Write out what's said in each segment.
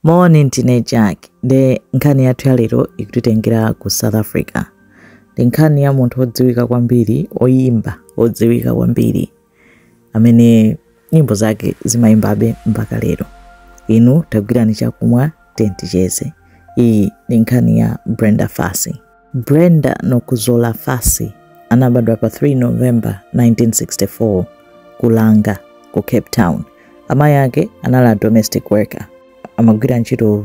moni ndine jack ndi nkhani yathu ya lero ikutitengera ku south africa ndi nkhani ya munthu odziwika kwambiri oyimba odziwika kwambiri amene nyimbo zake zimayimbabe mpaka lero inu tagwirani chakumwa tenticheze iyi ndi nkhani ya brenda fassie Brenda Nokuzola Fassie anabadwa pa 3 November 1964 ku Langa ku Cape Town. Amayi ake anali a domestic worker, amagwira ntchito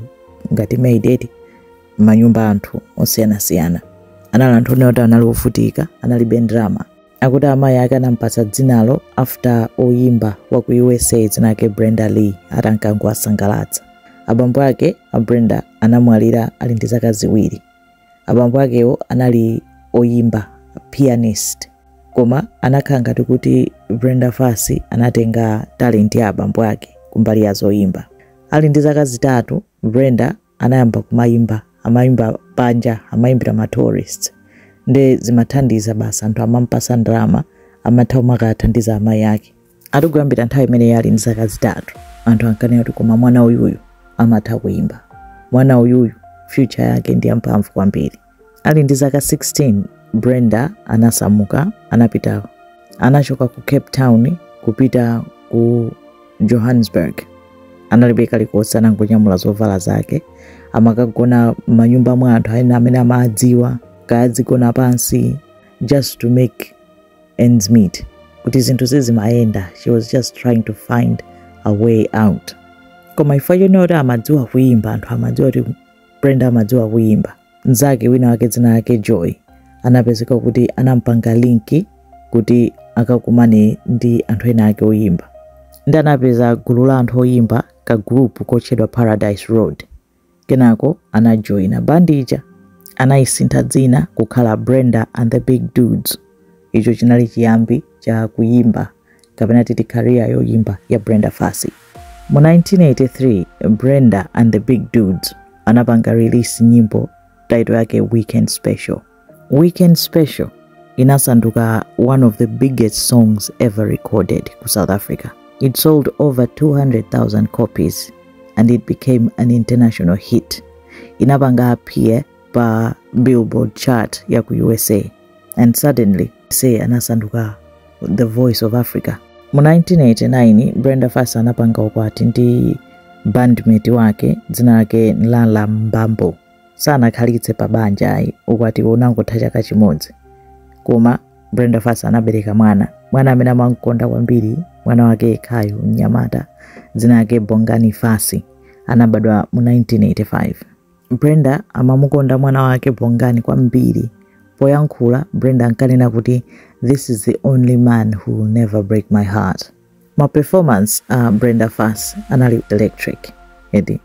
ngati maid eti m'manyumba a anthu osiyanasiyana. Anali anthu onena kuti anali ovutika, analibe ndalama. Akuti amayi ake anampatsa dzinalo after oyimba wa ku USA dzina lake Brenda Lee atankangowasangalatsa. Abambo ake a Brenda anamwalira ali ndi zaka ziwiri. abambo akewo anali oyimba pianist koma anakhala ngati kuti brenda fassie anatenga talent ya abambo ake kumbali ya zoyimba ali ndi zaka zitatu brenda anayamba kumayimba amayimba panja amayimbira ma tourists nde zimathandiza basi anthu amampasa ndalama amatha kumakathandiza amayi ake ati kuyambira nthawi imene ali ndi zaka zitatu anthu ankanena kuti koma mwana uyuyu amatha kuimba mwana uyuyu future yake ndi yamphamvu kwambiri ali ndi zaka 16 brenda anasamuka anapita anachoka ku cape town kupita ku johannesburg analibe kalikonse anangonyamula zovala zake amakagona manyumba mwa anthu ena amene amadziwa kaya adzigona pansi just to make ends meet kuti zinthu zizimayenda she was just trying to find a way out koma chifukwa chonena kuti amadziwa kuyimba anthu amadziwa kuti brenda amadziwa kuyimba mnzake wina wake dzina lake joy anapezeka kuti anampanga link kuti akakumane ndi anthu ena ake oyimba nde anapeza gulu la anthu oyimba ka group kotchedwa paradise road Kenako anajoina bandi ija, anaisintha dzina kukhala Brenda and the Big Dudes. Icho chinali chiyambi cha kuyimba kapena titi career yoyimba ya Brenda Fassie. Mu 1983, Brenda and the Big Dudes anapanga release nyimbo title yake Weekend Special. Weekend Special inasanduka one of the biggest songs ever recorded ku South Africa. It sold over 200,000 copies and it became an international hit. Inapanga appear pa Billboard chart ya ku USA and suddenly say anasanduka the voice of Africa. Mu 1989 Brenda Fassie anapanga ukwati ndi bandmate wake dzina lake Nhlahla Mbambo. sanakhalitse pa banja ayi ukwatiwo unangotha chaka chimodzi koma brenda fassie anabereka mwana mwana amene amamkonda kwambiri mwana wake yekhayo mnyamata dzina lake bongani fassie anabadwa mu 1985 brenda amamukonda mwana wake bongani kwambiri poyankhula brenda ankanena kuti this is the only man who will never break my heart ma performance a uh, Brenda Fassie anali electric eti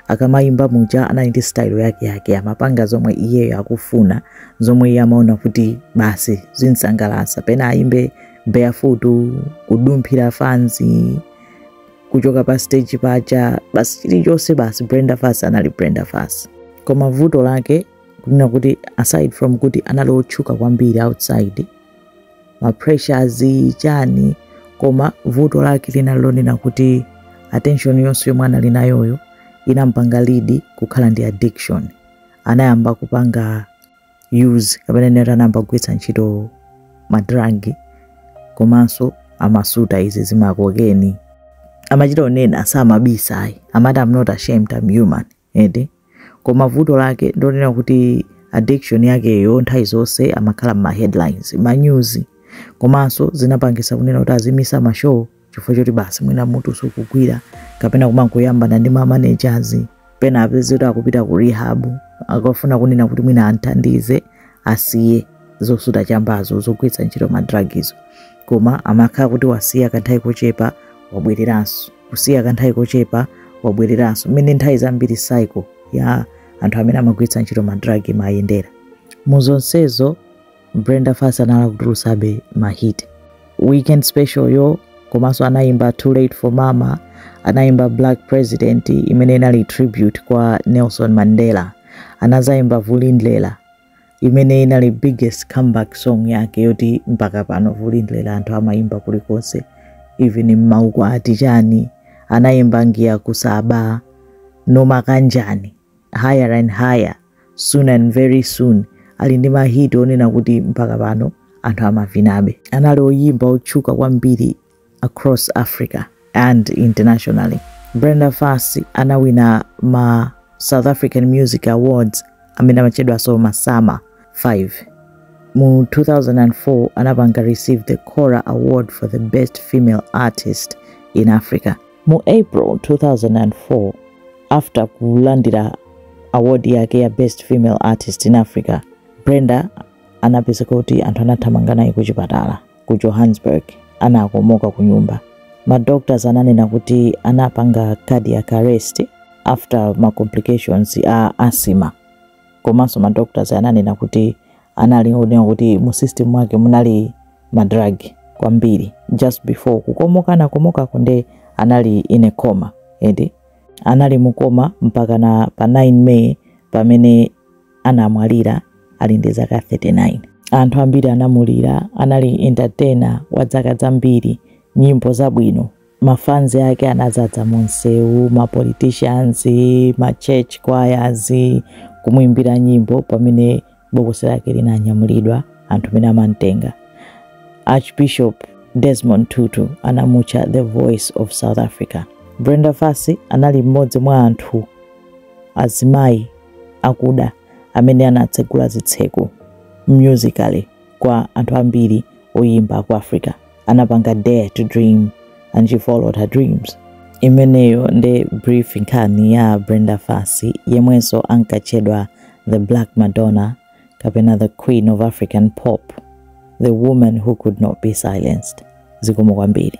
akamayimba muja anali ndi style yake yake amapanga zomwe iyeyo akufuna zomwe iye amaona kuti basi zimsangalatsa pena ayimbe barefoot kudumphira fanzi kuchoka pa stage paja basi chilichonse basi Brenda Fassie anali Brenda Fassie koma vuto lake kunena kuti aside from kuti anali otchuka kwambiri outside ma pressures chani koma vuto lake linali lonena kuti attention yonse yomwe anali nayoyo inampanga lead kukhala ndi addiction anayamba kupanga use kapena tinene kuti anayamba kugwiritsa ntchito madragi komanso amasuta izi zimakokeni amachita kunena samabisa ayi amati I'm not ashamed I'm human eti koma vuto lake ndonena kuti addiction yakeyo nthawi zonse amakhala mma headlines ma news komanso zinapangisa kunena kuti azimisa ma show chifukwa choti basi mwina mutu sukugwira kapena kumangoyambana ndi ma managers pena apezeke kuti akupita ku rehab akafuna kunena kuti mwina amthandize asiye zosuta chambazo zogwiritsa ntchito ma drug izo koma amakhala kuti wasiya kanthawi kochepa wabwereranso kusiya kanthawi kochepa wabwereranso mmene nthawi zambiri cycle ya anthu amene amagwiritsa ntchito madrag imayendera mu zonsezo Brenda Fassie anali akutulutsabe mahit weekend special yo komanso anayimba too late for mama anayimba black president imene inali tribute kwa nelson mandela anazayimba vulindlela imene inali biggest comeback song yake yoti mpaka pano vulindlela anthu amayimba kulikonse even mmaukwati chani anayimba ngiya kusaba noma kanjani higher and higher soon and very soon ali ndi mahit onena kuti mpaka pano anthu amavinabe anali oyimba otchuka kwambiri across Africa and internationally. Brenda Fassie anawina ma South African Music Awards amene amatchedwanso ma SAMA 5. Mu 2004 anapanga receive the Kora Award for the Best Female Artist in Africa. Mu April 2004 after kulandira award yake ya Best Female Artist in Africa, Brenda anapezeka kuti anthu anathamanga naye kuchipatala. ku Johannesburg anakomoka ku nyumba. Ma doctors ananena kuti anapanga cardiac arrest after ma complications a asima komanso ma doctors ananena kuti anali onena kuti mu system mwake munali ma drug kwambiri just before kukomoka anakomoka kunde anali in a coma eti anali mukoma mpakana pa 9 May pamene anamwalira ali ndi zaka 39. Anthu ambiri anamulira, anali entertainer wa zaka zambiri, nyimbo zabwino. Mafans ake anazadza mu msewu, ma politicians, ma church choirs, kumuimbira nyimbo pamene bokosi lake linanyamulidwa anthu mene amamtenga. Archbishop Desmond Tutu anamutcha the voice of South Africa. Brenda Fassie anali mmodzi mwa anthu azimayi akuda amene anatsegula zitseko musically kwa anthu ambiri oyimba aku africa anapanga dare to dream and she followed her dreams imeneyo ndi brief nkhani ya brenda fassie yemwenso ankatchedwa the black madonna kapena the queen of african pop the woman who could not be silenced zikomo kwambiri